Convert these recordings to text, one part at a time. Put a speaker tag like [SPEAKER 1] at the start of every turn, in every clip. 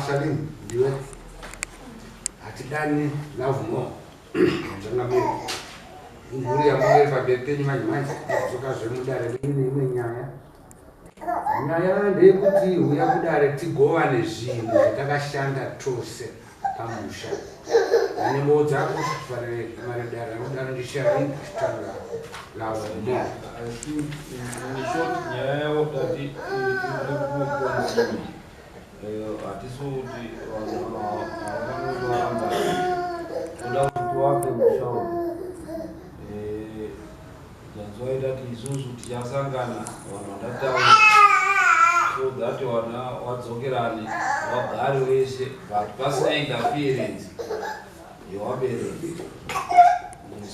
[SPEAKER 1] Salim ndiwe hatidani love more zvangamiri mhuri yamuri pabepeni manje manje kuzoka zvemudare imwe nyaya nyaya ndeyekuti huya kudare tigovane zvinhu zvatakashanda tose pamusha ane moo dzako kufanire mari dare anodaro ndishaii kutanga lavo mo
[SPEAKER 2] nyaya yavo tati hatisi kuti vanovaramba toda kuti wake mushauri That's why that isusu tichasangana vanhu vandataura so that vana vadzokerane vagari wese but pasina interference yewabereki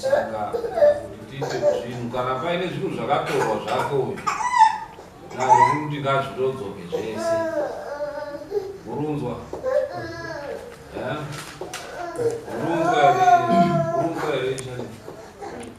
[SPEAKER 2] saka kuti tiite zvinhu kana paine zvinhu zvakatorwa zvake uyu naii kuti ngazvitodzoke zvese murunzwa eh? murunzwa here murunzwa here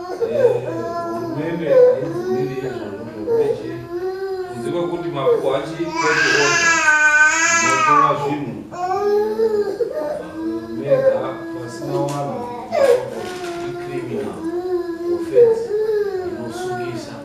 [SPEAKER 2] hurumende haibvumiri izvozvo zvekuti kunze kwekuti makuko achiiooa notora zvinhu mega pasina wanhu icriminal offense inosungisa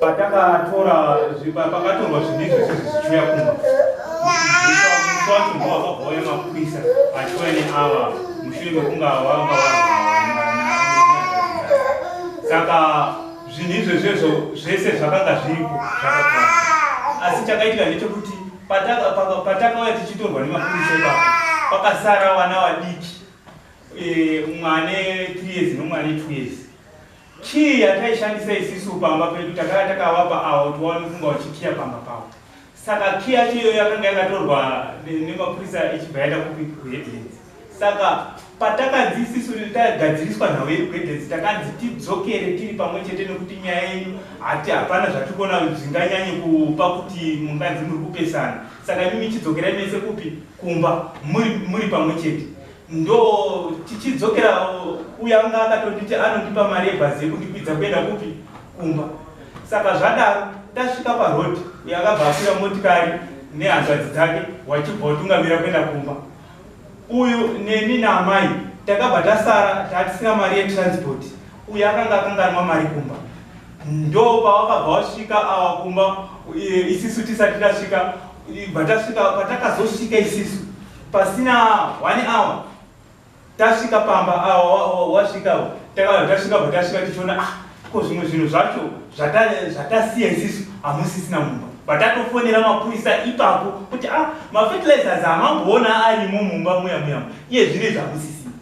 [SPEAKER 3] patakatora pakatorwa zvinhu izvi zvese zvichiuya kumba musi wacho ndo wakabva uya mapurisa achiuya neava mushure mekunge vanga saka zvinhu izvezvezvo zvese zvakanga zviripo asi chakaitika ndechekuti patakauya tichitorwa nemapurisa ipapo pakasara vana vadiki e, mwane 3 years nomwane 2 years kii yataishandisa isisu pamba pedu takava takavapa avo tiwaone kunga vachikiya pamba pavo saka kii yacho iyoyo yakanga yakatorwa nemapurisa ichibva yaenda kupi kuheadlands Saka patakanzi isisu riri tagadziriswa nhau yedu gwedensi takanzi tidzokere tiri pamwe chete nekuti nyaya yenyu hati hapana zvatiri kuona zvinganyanye kupa kuti munganzi muri kupesana saka imi michidzokera mese kupi kumba muri, muri pamwe chete ndo tichidzokera uya anga akatonditi anondipa mari yebhazi yekundikwidza kuenda kupi kumba saka zvadaro tasvika parodi uyo akabva akwira motikari nehanzvadzi dzake wachibva watungamira kuenda kumba uyu neni naamai takabva tasara tatisina mari yetransport uyu akanga akanganwa mari kumba ndo pawakabva wasvika awa kumba e, isisu tisati tasvika bva tasvika patakazosvika isisu pasina one hour tasvika pamba awa wasvika takabva tasvika bva tasvika tichiona ah Ko zvimwe zvinhu zvacho zvatasiya isisu hamusisina mumba vatatofonera mapurisa ipapo kuti a ah, mafertilizers hamamboona arimo mumba muya muya iye zvine zvamusisina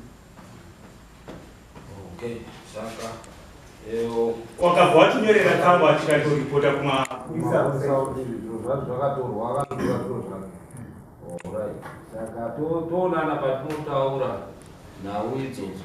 [SPEAKER 3] okay, wakabva watinyorera tsamba achikatoripota kumaakatoonana
[SPEAKER 2] patinotaura nhau idzodzo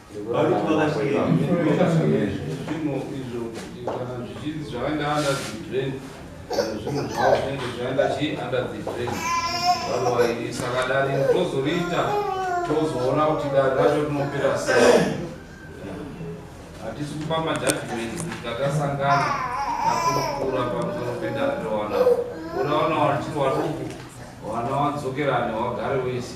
[SPEAKER 3] Varuti vakasvika
[SPEAKER 2] zvimo izvo kana zvichinzi zvakaenda under the drain zvinhu zvavo zvinenge zvaenda chi under the drain otherwise saka dare tozoriita tozoona kuti dare racho rinopera sei hatisi kupa majudgment tatasangana nakurukura pamusoro pedare rewana kuda wana wachiri waduku wana wadzokerane wagare wese